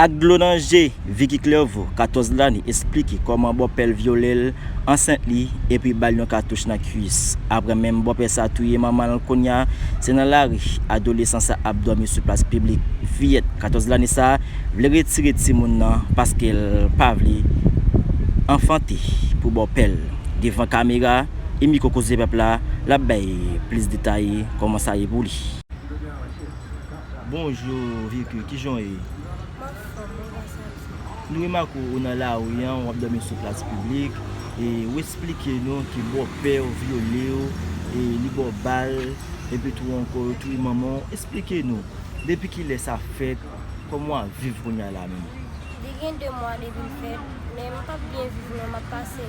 Ak dlo nan je, Vicky Clerveau, 14 lane, esplike kòman bòpè l vyole l ansent li epi ba l yon katouch nan kuis. Aprè menm bòpè sa touye manman l kounya se nan lari adolesan sa ap dòmi sou plas piblik. Fiyèt 14 lane sa vle retire timoun nan paske l pa vle anfante pou bòpè l. Devan kamera e mikwo Kozepèp la, l ap bay plis detay kòman sa ye pou li. Bonjou Vicky, kijan w ye? M ap fòm, mwen va santi m. Nou remake w nan lari an, w ap dòmi sou plas piblik, e w esplike nou ke bòpè w vyole w, e li ba w bal, epi tou ankò yo touye manman w, esplike nou, depi kilè sa fèt, kòman w ap viv kounya la menm? Li gen 2 mwa depi l fèt, men m p ap byen viv non, m ap pase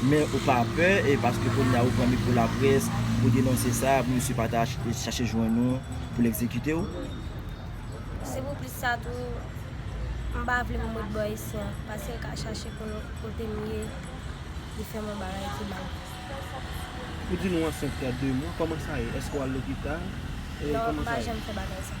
Men ou pa pè e paske kounye a ou pran mikro laprès pou denonse sa pou misye pa ta chache jwenn ou pou l egzekite w? Si pou plis sa tou, m pa vle m ret bò Esthie an, paske l ka chache konnen kote m ye li fè m yon bagay ki mal. Ou di nou ansent fè 2 mwa, kòman sa ye? Èske w al lopital? Non, m pa janm fè bagay sa.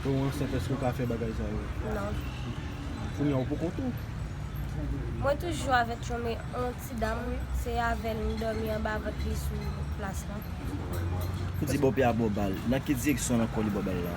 Lè ou ansent eske ou ka fè bagay sa yo? Non. Kounye a ou poko tou? Mwen toujou avèk yon men yon ti dam se avèl m dòmi anba vant li sou plas lan. Ou di bòpè a bò bal, nan ki direksyon nan kò li bò bal la?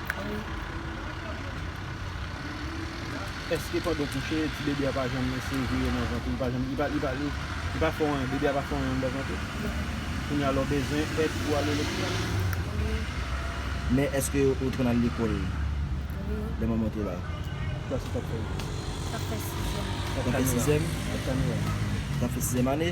Eske pandan w kouche ti bebe a pa janm lese vire nan vant ou? Li pa janm, li pa, li pa, li pa fè yon, bebe a pa fè yon yon anndan vant ou? Kounye a la w bezwen èd pou w ale lopital? Men eske ou te konn al lekòl lè manman w te la? Ki klas ou t ap fè? T ap fè sizyèm. T ap fè sizyèm? T ap fè sizyèm ane.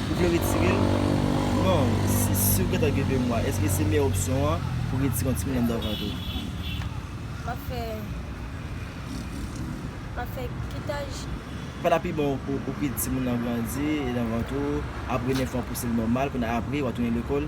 Ou vle retire l? Non, si si ou gentan gen 2 mwa, eske se meyè opsyon an pou w retire yon timoun anndan vant ou? M ap fè, m ap fè kitaj? Sa ta pi bon pou ou kite timoun nan grandi nan vant ou, apre 9 mwa pouse l nòmal, kounye a apre wa tounen lekòl?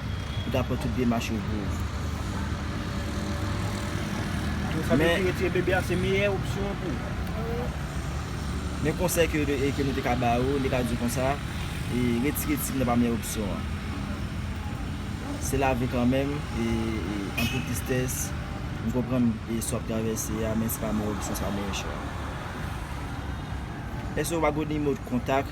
Ou ta pran tout demach yo pou ou. Donk sa vle di retire bebe a se meyè opsyon an pou ou? Men konsèy ke nou te ka ba ou, li ka di ou konsa, retire tib nan pa meyè opsyon an. Se lavi kanmenm, anpil tristès, m konprann sa w ap travèse a, men se pa meyè opsyon, se pa meyè chwa. Èske ou pa gen yon nimwo kontak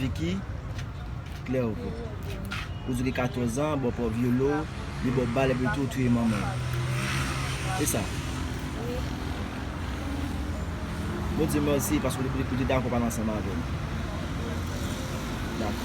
Vicky klè ou kou. Ou di li 14 ans, bon paw vyole w, li baw bal epi tou ou touye manman l. Se sa? Wi. Bon Dieu merci paske ou te dakò pale ansanm avè m. Dakò.